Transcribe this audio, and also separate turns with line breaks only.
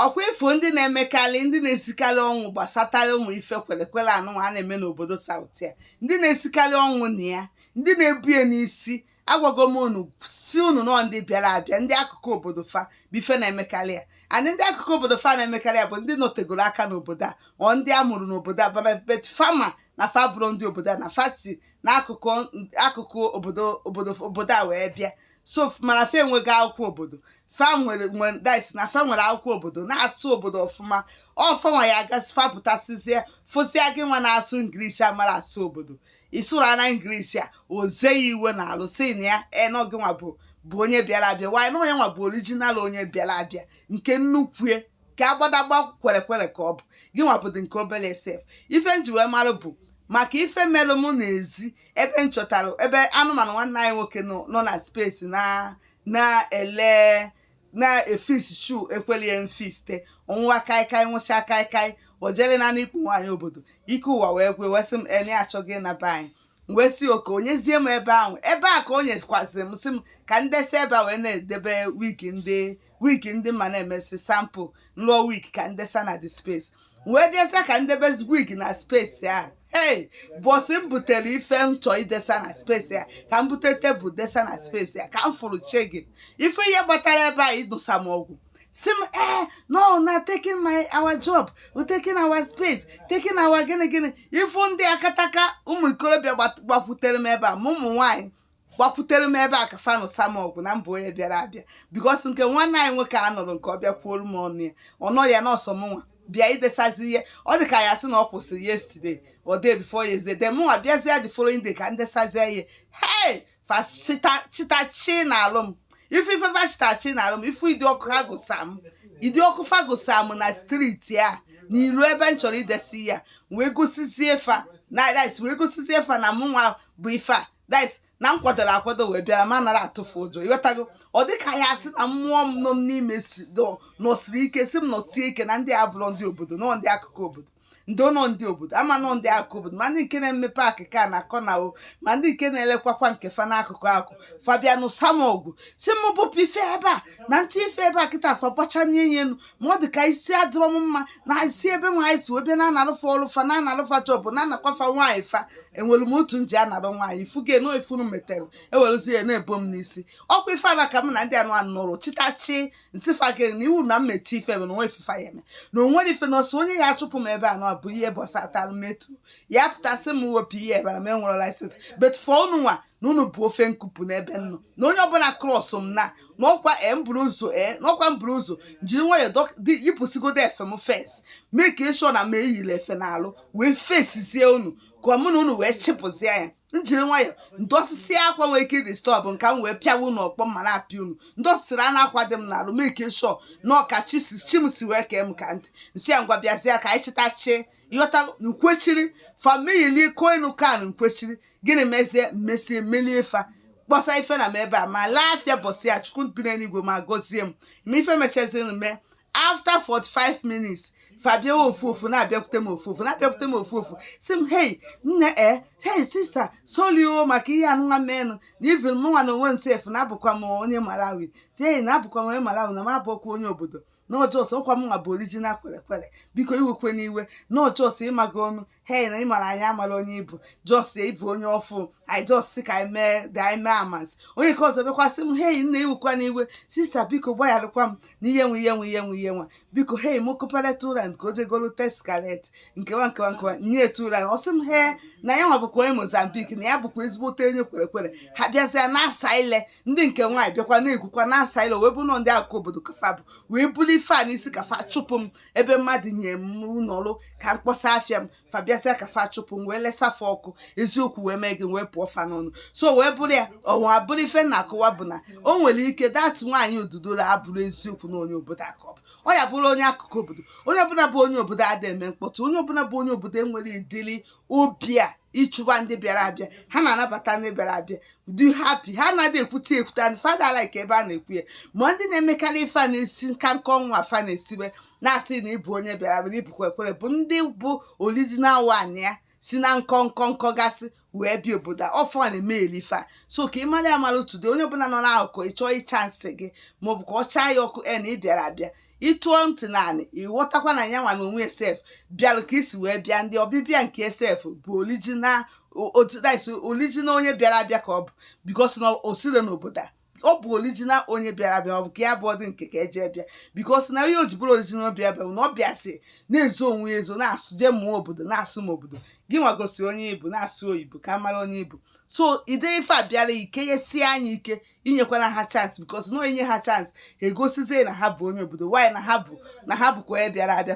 ọkwa ị fụ ndị na-emekarị ndị na-esikarị ọnwụ gbasatara ụmụ ife kwelekwele anụnwa a na-eme n'obodo South a ndị na-esikarị ọnwụ na ya ndị na-ebu ya n'isi agwago m unu sị unu na ọ ndị bịara abịa ndị akụkụ obodo fa bụ ife na-emekarị ya and ndị akụkụ obodo fa na-emekarị ya bụ ndị nọtegoro aka n'obodo a ọ ndị a mụrụ n'obodo a bana but fa ma na fa abụrọ ndị obodo a na fa si n'akụkụ akụkụ obodo obodo obodo a wee bịa so mana fa enwego akwụkwọ obodo fa nwere nwere dis na fa nwere akwụkwọ obodo na-asụ obodo ọfụma ọ fanwa ya gasị fa pụtasịzie fụsịa gị nwa na-asụ English amarọ asụ obodo ị sụrụ ya na English a oze ya iwe na alụ sị na ya na ọ gị nwa bụ bụ onye bịara abịa wanyị na ọ ya nwa bụ original onye bịara abịa nke nnukwu ya ka agbadagba kwerekwere ka ọ bụ gị nwa bụdị nke obere sef ife m ji wee mara bụ maka ife melụ m n'ezi ebe m chọtara ebe anụ m nọ nwanne anyị nwoke nọ nọ na space na na-ele na-efix shoe ekweli ya mfiste ọ nwụwa kaikai nwụcha kaikai o jere na n'ikpu nwaanyị obodo ike ụwa wee gwụ ya wee sị m na ya achọgo ịna be anyị wee sị okay o nyezie m ebe ahụ ebe a ka o nyekwasị m sị m ka m desa ebe a wee na-edebe wig ndị wig ndị mụ na-emesi sample m lụọ wig ka m desa na the space wee bịaza ka m debezi wig na space a ee mbọsị m butere ife m chọọ idesa na space a ka m bute table desa na space a ka m fụrụ che gị ife ihe gbatara ebe a ịnụsa m ọgụ sị m ee unu na taking my our job taking our space taking our gịnị gịnị ị fụ ndị akataka ụmụ ikorobịa gbakwutere m ebe a ma ụmụ nwaanyị gbakwutere m ebe a ka fa nụsa m ọgụ na m bụ onye bịara abịa because nke nwanne anyị nwoke a nọrọ nke ọ bịakwuolu m ọnụ ya ọ nọ ya n'ọsọ m nwa bịa idesazi ihe ọ dị ka ya sị na ọ kwụsịrị yesterday or day before yesterday then mụnwa bịazie the following day ka m desazie ihe hey fachitachi na alụ m ife ife fachitachi na alụ m ife ụdị ọkụ ha gụsa m ụdị ọkụ fa gụsa m na street a n'ilu ebe m chọrọ idesa ya wee gosizie fa na wee gosizie fa na mụnwa bụ ife a dis na m kwadoro akwado wee bịa na m anarọ atụ fa ụjọ ị ghọtago ọ dị ka ya sị na mmụọ m nọ n'ime nọsiri ike sị m nọsie ike na ndị a abụrọ ndị obodo na ọ ndị akụkụ obodo ndị ụlọ ndị obodo a ma na ọ ndị akụkụ obodo ma ndị nke na-eme parking car na corner o ma ndị nke na-elekwakwa nke fa n'akụkụ akụ fa bịa nụsa m ọgụ sị m bupụ ife ebe a na m ti ife ebe a kịta fa gbachanye ihe enu ma ọ dị ka isi adịrọ m mma na isi ebe nwaanyị sị webe na analụ fa ọlụ fa na analụ fa shop na anakwa fa nwaanyị fa enwere m otu m ji anara nwaanyị ị fụgo na ife unu metere e werezi ya na-ebo m n'isi ọkwa ife anwa ka m na ndị anụ anụ nụrụ chịtachi m sị fa gị na iwu na m na-eti ife bụ na o nwerọ ife fa ya-eme na o nwerọ ife na ọ sọ onye ya-achụpụ m ebe anụ a bụ ihe gbasatara Metro ya pụta sị m wepụ ihe ebe a na m enwerọ license but for unu nwa na unu bụ ofe nkupụ n'ebe m nọ na onye ọbụla cross m na na ọkwa e mburu ụzọ e na ọkwa mburu ụzọ jiri nwayọọ dọk- dị- yipụsigodo efe m first make sure na m eyirọ efe n'arụ wee fesizie unu ka mụ na unu wee chịpụzie ya m jiri nwayọọ m yipụsisịa akwa nwere ike ị-disturb nke m wee pịawa unu ọkpọ ma na-apịa unu ndị osisiri a na-akwa dị m n'arụ make sure na ọ ka chi si chi m si wee kee m ka m dị m sị ya ngwa bịazie ka anyị chịtachie ịghọta nkwechiri family koinu kan nkwechiri gịnị mezie mesie melie ife a kpọsa ife na m ebe a m lee afịa bọsị ya chukwu bi n'eluigwe ma gọzie m ma ife mechaziri m mee after 45 minutes fa bịawa ofu ofu na-abịakwute m ofu ofu na-abịakwute m ofu ofu sị m hei nne e hei sister sorry o maka ihe anụnwa menụ na even mụnwa na onwe m sef na abụkwa m onye malawi tei na abụkwa m onye malawi na m abụrọkwa onye obodo na ọ just ọkwa mụnwa bụ original kwere kwere biko iwekwana iwe na ọ just ịmaga ọnụ hey na ị mara anyị amarọ onye ị bụ just ị bụ onye ọfụ anyị just sị ka anyị mee dị anyị mee amasị onye nke ọzọ bịakwa sị m hey nne iwekwana iwe sister biko gbagharakwam m na ihe nwe ihe nwe ihe nwe ihe nwa biko hey m kụpara two rand ka o jegolu teskalet nkewa nkewa nkewa nye two rand ọ sị m he na ya nwa bụkwa onye mozambique na ya bụkwa ezigbote onye kwere kwere ha bịazịa na-asa ile ndị nke nwaanyị bịakwa na-ekwukwa na-asa ile wee bụrụ na ọ ndị akụkụ obodo ka fa bụ wee bulu ife a n'isi ka fa chụpụ m ebe mmadụ nye m nọrọ ka m kpọsa afịa m fa bịazịa ka fa chụpụ m wee lesa fa ọkụ eziokwu wee mee gị wee pụọ fa n'ọnụ so wee bụrụ ya o wee bụrụ ife m na-akọwa bụ na o nwere ike that nwaanyị dudula abụrọ eziokwu na onye obodo a ka ọ bụ ọ ya bụrụ onye akụkụ obodo onye ọbụla bụ onye obodo adịghị eme mkpọtụ onye ọbụla bụ onye obodo enwerọ ụdịlị obi a ịchụba ndị bịara abịa ha na-anabata ndị bịara abịa dị happy ha anaghị ekwute ekwute and fa ada like ebe a na-ekwu ya ma ndị na-emekarị ife a na-esi nka nka ọnwa afa na-esiwe na-asị na ị bụ onye bịara abịa ị bụ kwere kwere bụ ndị bụ original one ya si na nkọ nkọ nkọ gasị wee bịa obodo a ọ fa na-emeli ife a so ka ị mara ya mara otu ọ dị onye ọbụla nọ n'akụkụ ị chọọ ị-chance gị maọbụ ka ọ chaa ya ọkụ e na ị bịara abịa ị tọọ ntị n'anị ị ghọtakwa na ya nwa na onwe ya sef bịara ka i si wee bịa ndị ọbịbịa nke ya sef bụ original otidaiso original onye bịara abịa ka ọ bụ because na o sirọ n'obodo a ọ bụ original onye bịara abịa ọ bụ ka ya bụ ọdị nke ka eje bịa because na ihe o ji bụrụ original bịa bịa bụ na ọ bịasịa na-ezo onwe ya ezo na-asụ je mụọ obodo na-asụ m obodo gị nwa gosi onye ị bụ na-asụ oyibo ka a mara onye ị bụ so ide ife a bịara ike ya sie anyị ike inyekwana ha chance because na i nye ha chance ha egosizie na ha bụ onye obodo while na ha bụ na ha bụkwa onye bịara abịa